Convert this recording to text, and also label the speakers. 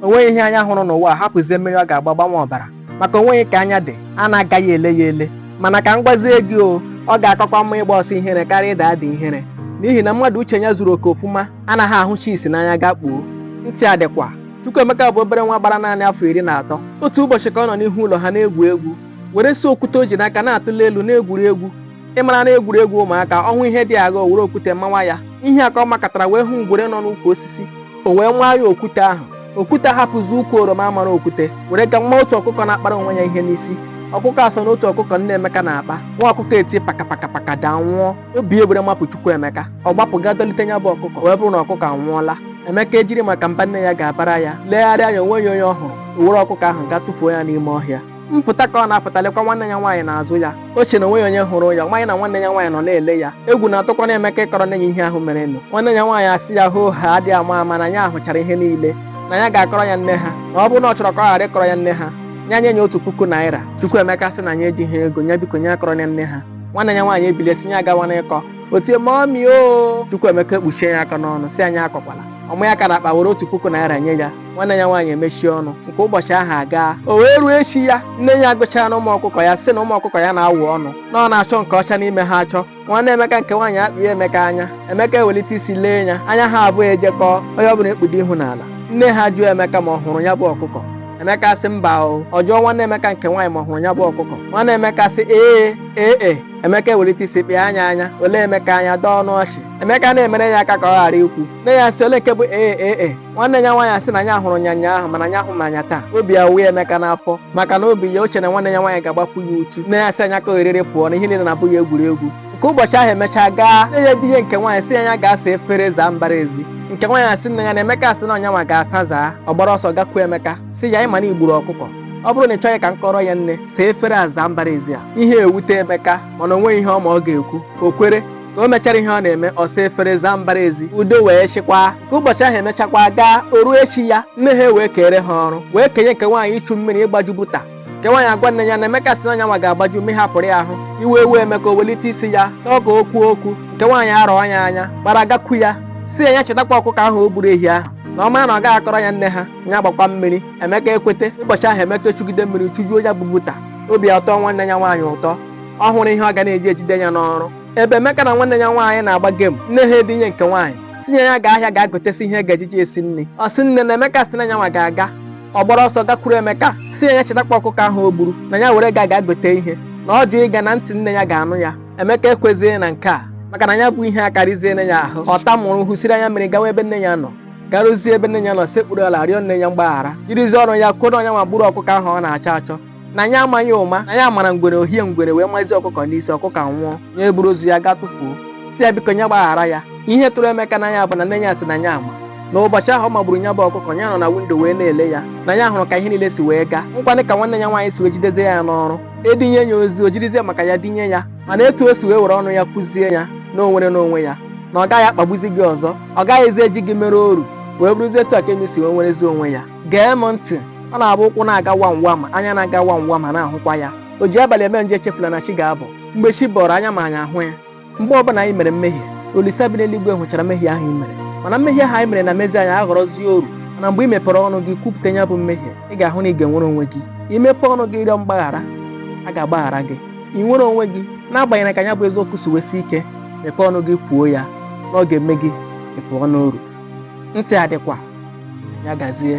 Speaker 1: o nweghị ihe anya hụrụ n'ụwa a hapụzie mmiri ọ ga-agba gbanwe ọbara maka o nweghị ka anya dị a na-agaghị ele ya ele mana ka m gwazie gị o ọ ga-akakwa mma ịgba ọsọ ihere karịa ịda ada ihere n'ihi na mmadụ uche ya zuru oke ofuma anaghị ahụcha isi n'anya gaa kpuo ntị adịkwa Chukwuemeka bụ obere nwa gbara naanị afọ iri na atọ otu ụbọchị ka ọ nọ n'ihu ụlọ ha na-egwu egwu were si okwute o ji n'aka na-atụli elu na-egwuri egwu ị maranụ egwuregwu ụmụaka ọ hụ ihe dị agha o were okwute mawa ya ihe a ka ọ makatara wee hụ ngwere nọ n'ukwu osisi o wee maa ya okwute ahụ okwute hapụzi ukwu oroma a mara okwute were gaa maa otu ọkụkọ na-akpara onwe ya ihe n'isi ọkụkọ a so n'otu ọkụkọ nne emeka na-akpa nwa ọkụkọ eti pakapakapaka daa nwụọ obi ewere mapụ Chukwuemeka ọ gbapụ gaa dọlite ya bụ ọkụkọ wee bụrụ na ọkụkọ anwụọla emeka ejiri maka mba nne ya ga-abara ya legharịa anya o nweghị onye ọ hụrụ o were ọkụkọ ahụ gaa tụfuo ya n'ime ọhịa mpụta ka ọ na-apụta lekwa nwanne ya nwaanyị n'azụ ya o che na o nweghị onye hụrụ ya amaghị na nwanne ya nwaanyị nọ na-ele ya egwu na-atụkwanụ emeka ịkọrọ nne ya ihe ahụ merenụ nwanne ya nwaanyị asị ya hoohaa adịghị ama ama na ya ahụchara ihe niile na ya ga-akọrọ ya nne ha na ọ bụrụ na ọ chọrọ ka ọ ghara ịkọrọ ya nne ha ya nye ya otu puku naira Chukwuemeka sị na ya ejighị ego ya biko ya akọrọ ya nne ha nwanne ya nwaanyị ebilie sị ya agawala ịkọ o tie mọmi o Chukwuemeka ekpuchie ya aka n'ọnụ sị ya akọkwala ọ manye aka n'akpa were otu puku naira nye ya nwanne ya nwaanyị emechie ọnụ nke ụbọchị ahụ agaa o wee ruo echi ya nne ya agụchaanụ ụmụ ọkụkọ ya sị na ụmụ ọkụkọ ya na-awa ọnụ na ọ na-achọ nke ọcha n'ime ha achọ nwanne emeka nke nwaanyị akpịa emeka anya emeka ewelite isi lee ya anya ha abụọ ejekọọ onye ọbụla ekpudo ihu n'ala nne ha jụọ emeka ma ọ hụrụ ya bụ ọkụkọ emeka sị mba o ọ jụọ nwanne emeka nke nwaanyị ma ọ hụrụ ya bụ ọkụkọ nwanne emeka sị ee ee e emeka ewelite isi kpịa ya anya o lee emeka anya dọọ ọnụ ọchị emeka na-emere ya aka ka ọ ghara ikwu nne ya sị ole nke bụ ee ee e nwanne ya nwaanyị asị na ya hụrụ ya nyaahụ mana ya ahụbeghị ya taa obi ya wee emeka n'afọ maka na obi ya o che na nwanne ya nwaanyị ga-agbapụ ya uchu nne ya sị ya ka ohere pụọ na ihe niile na-abụ ya egwuregwu nke ụbọchị ahụ emechaa gaa nne ya zie nke nwaanyị sị ya gaa saa efere zaa mbara ezi nke nwaanyị asị nne ya na emeka asị na ọ ya nwa ga-asa zaa ọ gbara ọsọ gakwuo emeka sị ya ị ma na i gburu ọkụkọ ọ bụrụ na ị chọghị ka m kọrọ ya nne saa efere a zaa mbara ezi a ihe ewute emeka mana o nweghị ihe ọ ma ọ ga-ekwu o kwere ka o mechara ihe ọ na-eme ọ saa efere zaa mbara ezi udo wee chịkwaa nke ụbọchị ahụ emechakwa gaa o ruo echi ya nne ha wee kere ha ọrụ wee kenye nke nwaanyị ichu mmiri ịgbaju buta nke nwaanyị agwa nne ya na emeka sị na ya nwa ga-agbaju mmiri hapụrụ ya ahụ iwe ewee emeka o welite isi ya chọọ ka o kwuo okwu nke nwaanyị arọọ ya anya gbara gakwu ya sị ya ya chetakwa ọkụkọ ahụ o gburu ehi ahụ na ọ mara na ọ gaghị akọrọ ya nne ha ya gbakwa mmiri emeka ekwete ụbọchị ahụ emeka echugide mmiri chujuo ya bụ buta obi atọọ nwanne ya nwaanyị ụtọ ọ hụrụ ihe ọ ga na-eji ejide ya n'ọrụ ebe Emeka na nwanne ya nwaanyị na-agba gem nne ha edinye nke nwaanyị sị ya ya gaa ahịa ga gotesi ihe ga-ejiji esi nri ọ sị nne na Emeka sị na ya nwa ga-aga ọ gbara ọsọ gakwuru Emeka sị ya ya chetakwa ọkụkọ ahụ o gburu na ya were ga ga gote ihe na ọ jụ ịga na ntị nne ya ga-anụ ya Emeka ekwezighị na nke a maka na ya bụ ihe akarịziena ya ahụ ọ tamụrụ hụsiri anya mmiri gawa ebe nne ya nọ garuzie ebe nne ya nọ sekpuru ala rịọ nne ya mgbaghara jirizie ọnụ ya kwuo na ọ nya nwa gburu ọkụkọ ahụ ọ na-achọ achọ na nya amaghị ụma na ya mara ngwere o hie ngwere wee mazie ọkụkọ n'isi ọkụkọ nwụọ nya eburu ozu ya gaa tụfuo sị ya biko nya gbaghara ya ihe tụrụ Emeka n'anya bụ na nne ya sị na ya ama na ụbọchị ahụ ọ magburu nya bụ ọkụkọ ya nọ na windo wee na-ele ya na ya hụrụ ka ihe niile si wee gaa hụkwanị ka nwanne ya nwaanyị si wee jidezie ya n'ọrụ edinye ya ozi o jirizie maka ya dinye ya mana etu o si wee were ọnụ ya kwuzie ya na o nwerena onwe ya na ọ gaghị akpagbuzi gị ọzọ ọ gaghịzi eji gị mere oru wee bụrụzie etu a ka Emi si wee nwerezi onwe ya gee m ntị ọ na-abụ ụkwụ na-aga wam wam anya na-aga wam wam a na-ahụkwa ya o ji abalị eme njọ echefula na chi ga-abọ mgbe chi bọrọ anya ma anyị ahụ ya mgbe ọbụla anyị mere mmehie Olisa bi n'eluigwe hụchara mmehie ahụ anyị mere mana mmehie ahụ anyị mere na-emezi anyị aghọrọzie oru mana mgbe ị mepere ọnụ gị kwupụta ya bụ mmehie ị ga-ahụ na ị ga-enwere onwe gị imepe ọnụ gị rịọ mgbaghara a ga-agbaghara gị ị nwere onwe gị n'agbanyeghị ka ya bụ eziokwu si wee sie ike mepee ọnụ gị kwuo ya na ọ ga-eme gị ị pụọ n'oru ntị adịkwa ya gazie